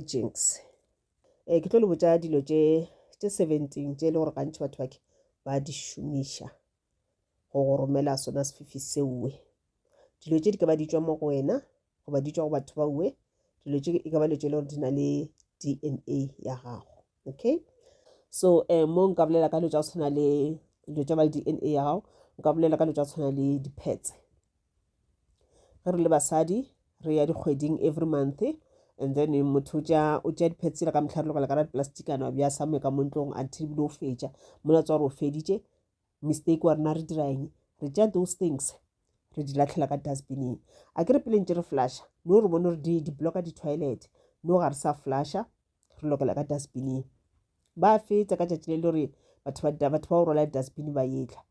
jinx e ke tlo le botša dilo tše tše 17 tše e le gore gantši batho bake ba di šomiša go go romela sona sefifi seowe dilo tše di ka ba di tšwa mo go wena goba di tšwa go batho ba uwe dilo tše e ka ba dilo tše e le gore di na le dna ya gago okay so um mo nka bolela ka dilo tša go tshwana le dilo tša ba le dna ya gago nka bolela ka dilo tša go tshwana le dipetse ge re le basadi re ya dikgweding every month and then motho o tša diphe tsela ka motlha re lokela ka ra diplasticana bja same ka montlong until bile o fetša mola tswa gore o feditše mistake wa rena re dira eng re tša those things re di latlhela ka dustbineng a ke re pele ntse re flasha no re bone gore di-blocka di-toilet no ga re sa flasha re lokela ka dustbining ba feta ka tšatši le le gore batho ba batho ba o rwala dustbin ba etla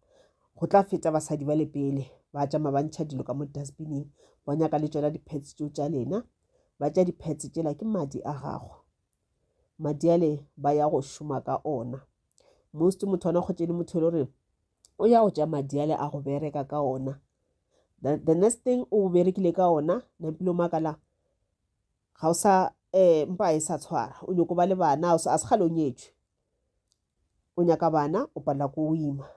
go tla feta basadi ba le pele ba tšama ba ntšha dilo ka mo dustbining ba nyaka le tšona di-pads tso tša lena ba tša di-pads tšela ke madi a gago madi ale ba ya go šoma ka ona most motho ona kgotse le motho e le gore o ya go tša madi ale a go bereka ka ona the next thing o berekile ka ona nampile o makala Ga o sa, ee, mpa e sa tshwara. O nyoko ba le bana, a o sa, a se kgale o nyetšwe. O nyaka bana, o palela ko o ima.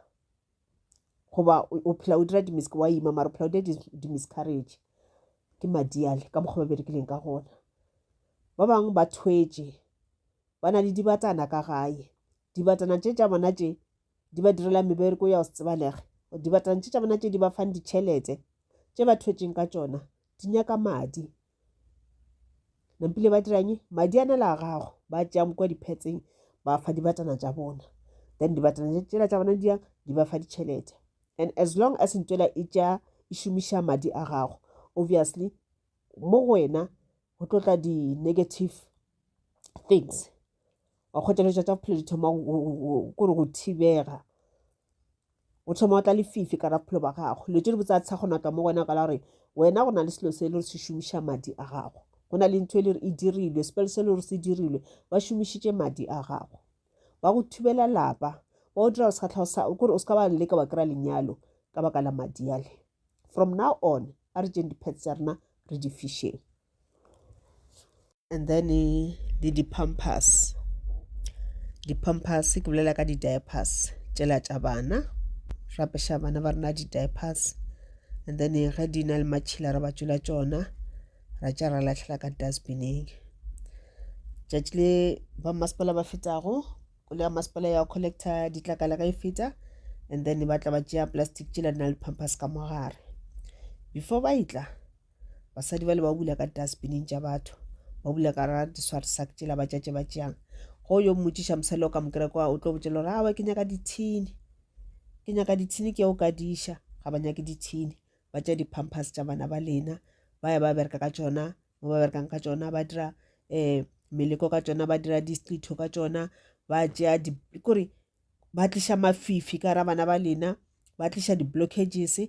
Goba o, o phela o dira dimisk, wa ima, mara o phela o dira dimiscarriage. Ke madi ale, ka mokgwa ba berekileng ka gona. Ba bangwe ba thwetše, ba na le dibatana ka gae. Dibatana tše tša bona tše, di ba direla mebereko ya go se tsebalege. Dibatana tše tša bona tše di ba fang ditšhelete, tše ba thwetšeng ka tšona, di nyaka madi. nampile ba diranye madi a nela a gago ba tšea kwa diphetseng ba fa dibatana tša bona then dibatana tšela tša bona diyang di ba fa ditšhelete and as long as ntswela e tša e šomiša madi a gago obviously mo go wena go tlo tla di-negative things wa kgotšeletša tša bophelo di thoma kore go thibega o thoma o tla lefifi ka rapholo ba gago dilo tse di botsa tsha go naka mo wena ka la gore wena go na le selo se le re se šomiša madi a gago go na le ntho e le re e dirilwe sepele se le gore se dirilwe ba šomišitše madi a gago ba go thubela lapa ba o dira segatlhago sa kore o se ka ba leka wa kry-a lenyalo ka baka la madi ale from now on a re tšeng dipets tsa rena re di fišeng And then le di pampers, di pampers ke bolela ka di diapers tšela tša bana, re apeša bana ba rena di diapers and then ge di na le matšhila re ba tšola tšona ra tša ra lahlela ka dustbineng. Tšatši le ba masepala ba fetago koloi ya masepala ya collecta ditlakala ga e feta and then ba tla ba tšea plastic tšela di na le pampers ka mogare before ba e tla basadi bale ba bula ka dustbining tša batho ba bula ka ra diswarsak tšela ba tšatše ba tšeang go yo mmotšiša mosadi o ka mokereko o tlo botšela gore awa ke nyaka dithini ke nyaka dithini ke o ka diša ga ba nyake dithini ba tša di-pampers tša bana ba lena ba ya ba bereka ka tšona mo ba berekang ka tšona ba dira um meleko ka tšona ba dira diqitho ka tšona ba tšea kore ba tliša mafifi ka ra bana ba lena ba tliša di-blockages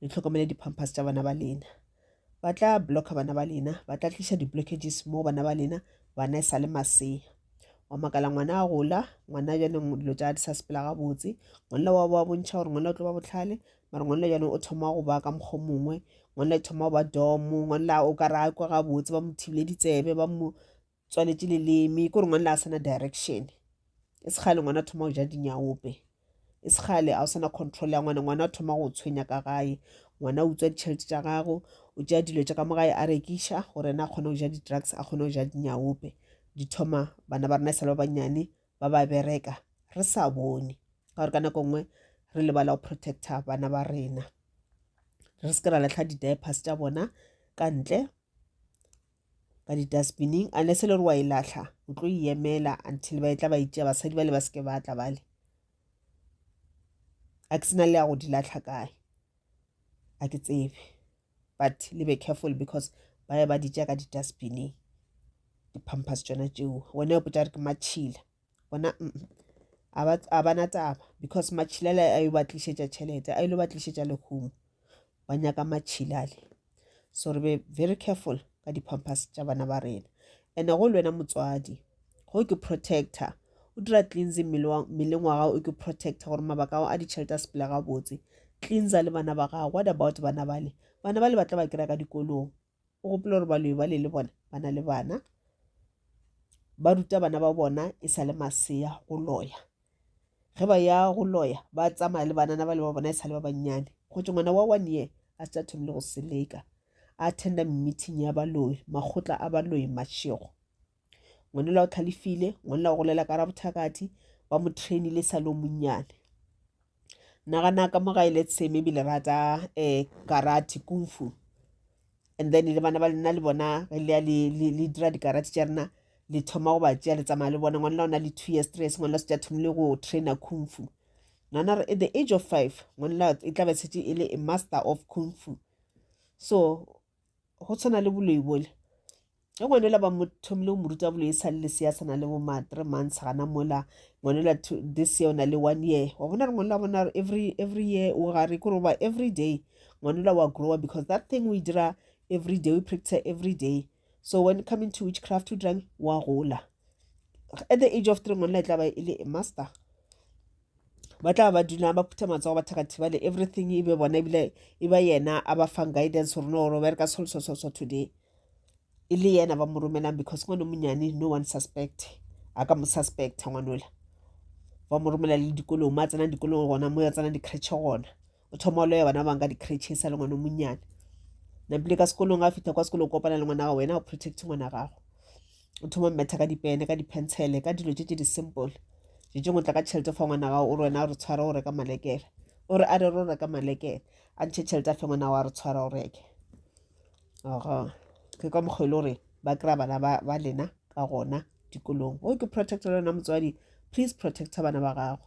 le tlhokomele di-pampers tša bana ba lena ba tla blocka bana ba lena ba tla tliša di-blockages mo bana ba lena bana e sa le masea wa makala ngwana a gola ngwana bjanong dilo tša di sa sepela gabotse ngwanela wa ba bontšha gore ngwanela o tlo ba botlhale mare ngwanela bjanong o thoma go ba ka mokgwa mongwe ngwanela e thoma go ba domo ngwanela o ka ra kwa gabotse ba mo thibile ditsebe ba mo tswaletše leleme ke gore ngwana le a sena direction e se kgale ngwana thoma go ja dinyaope e se kgale a o sena control ya ngwana ngwana thoma go tshwenya ka gae ngwana o utswa ditšhelete tša gago o tšea dilo tša ka mo gae a rekiša gore ena a kgone go ja di-drugs a kgone go ja dinyaope di thoma bana ba rena e sale ba bannyane ba ba bereka re sa bone ka gore ka nako nngwe re lebala go protecta bana ba rena re se ke ra latlha di-diapers tša bona ka ntle ka di-dustbining unless e le gore wa e lahla o tlo e emela until ba e tla ba itšea basadi bale ba seke ba tla bale a ke sena le ya go di lahla kae a ke tsebe but le be careful because ba ye ba di tšea ka di-dustbining di-pampers tšona tšeo wena o potsa re ke matšhila bona a ba na taba because matšhilale a yo ba tlišetša tšhelete a ile ba tlišetša lehumo ba nyaka matšhilale so re be very careful ka di-pampers tša bana ba rena ene go le wena motswadi go ke protector o dira cleansing mmeleng wa gago o ke protector gore mabaka ao a ditšhelete a sepela gabotse cleansa le bana ba gago what about bana bale bana bale ba tla ba kry-a ka dikolong o gopela gore baloi bale le bona ba na le bana ba ruta bana ba bona e sa le masea go loya ge ba ya go loya ba tsamaya le banana ba le ba bona e sa le ba bannyane go tse ngwana wa one year a se a thomile go seleka a attenda meeting ya baloi makgotla a baloi mashego ngwanela o tlhalefile ngwanela o golela ka ra bothakati ba mo trainile sa le o monnyane nagana ka mo gae let's say maybe le rata um karate kung fu and then le bana ba lena le bona re leya le dira dikarate tša rena le thoma go ba tšea le tsamaya le bona ngwanela o na le two years three years ngwanela se tša thomile go trainer kung fu nana re at the age of five ngwanela e tla be setse e le a master of kung fu so go tshwana le boloi bole ge ngwanela ba mothomile o mo ruta boloi e sa le lesea tshwana le bo ma three months gana mola ngwanela this year o na le one year wa bona re ngwanela bona every every year o gare kore ba every day ngwanela wa grower because that thing o e dira every day o practice every day so when coming to witchcraft o dirang wa gola at the age of three ngwanela e tla ba e le a master ba tla ba duna ba phutha matsogo ba thaka thibale everything e be bona ebile e ba yena a ba fang guidance gore no ro bereka solsososo today e le yena ba mo romelang because ngwane monyane no one suspect a ka mo suspecta ngwanola ba mo romela le dikolong mo a tsenang dikolong gona mo ya tsenang dikretšhe gona o thoma o loya bana bang ka di-cratches sa le ngwana monnyane napile ka sekolong ga fitlha kwa sekolong kopana le ngwana gago wena o protect ngwana gago o thoma mmetha ka dipene ka di-pencele ka dilo tse tse di-simple je tšengwe tla ka tšhelete fa ngwana gago o re wena o re tshware o reka malekere o re a re ro reka malekere a ntšhe tšhelete a fe ngwana gago a re tshwara o reke oga ke ka mokgwa e le gore ba kry-a bana ba lena ka gona dikolong o ke protect le wena motswadi please protecta bana ba gago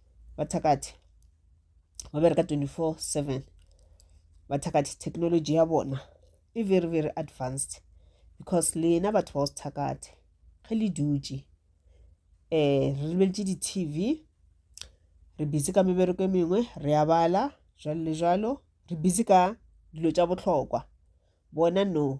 bathakathi ba bereka 24 7 bathakathi technology ya bona e very very advanced because lena batho ba go sethakathi ge le dutše um re lebeletše di-tv re busy ka mebereko e mengwe re a bala jalo le jalo re busy ka dilo tša bohlokwa bona no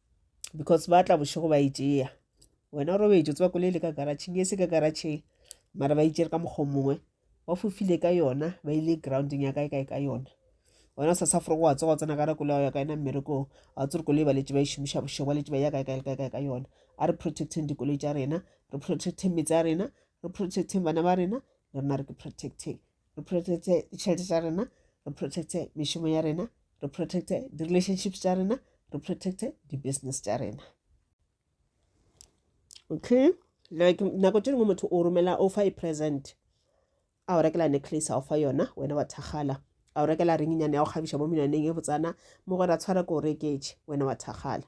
because ba tla bošego ba e tšea wena robetso tseba koloi le ka garatšheng e se ka garatšheng mara ba itšere ka mokgwa mongwe ba fofile ka yona ba ile grounding ya kae kae ka yona wena sa safore go wa tsoga tsena ka rako leo ya ka ena mmerekong a tsere koloi ba letse ba e šomiša bošego ba letse ba ya kae kae kae kae ka yona a re protecting dikoloi tša rena re protecting metse ya rena re protecting bana ba rena le rena re ke protecting re protecte ditšhelete tša rena re protecte mešomo ya rena re protecte di-relationships tša rena re protecte di-business tša rena okay like nako tše dingwe motho o romela o fa e present a o rekela necklace a o fa yona wena wa thakgala a o rekela ringinyane ya go kgabiša mo menwaneng e botsana mo gore a tshwara ko o reketše wena wa thakgala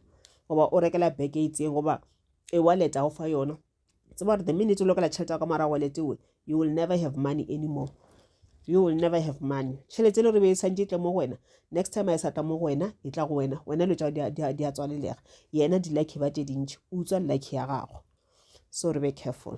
goba o rekela beke e itseng goba e wallet a o fa yona tseba gore the minute o lokela tšhelete ya ka morago letiwe you will never have money anymore you will never have money tšhelete le gore be e santse tle mo go wena next time a e sa tla mo go wena e tla go wena wena lo tšao di a tswalelega yena di-lucky ba tše dintši o utswa lucky ya gago so re be careful